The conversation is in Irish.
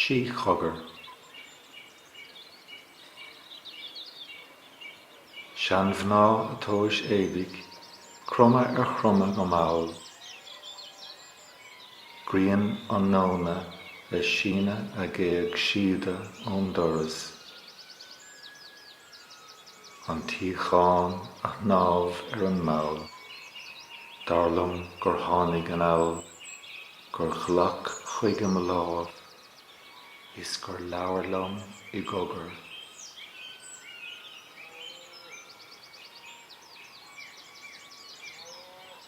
sí chogar. Sean-mhná ag tomhas éadaigh, cromadh ar chromadh go mall. Grian an nóna ag síneadh a géag síoda ón doras. An tsíocháin ag snámh ar an mballa. Dar liom gur tháinig anall. Gur ghlac chuige mo lámh. Is gur labhair liom i gcogar.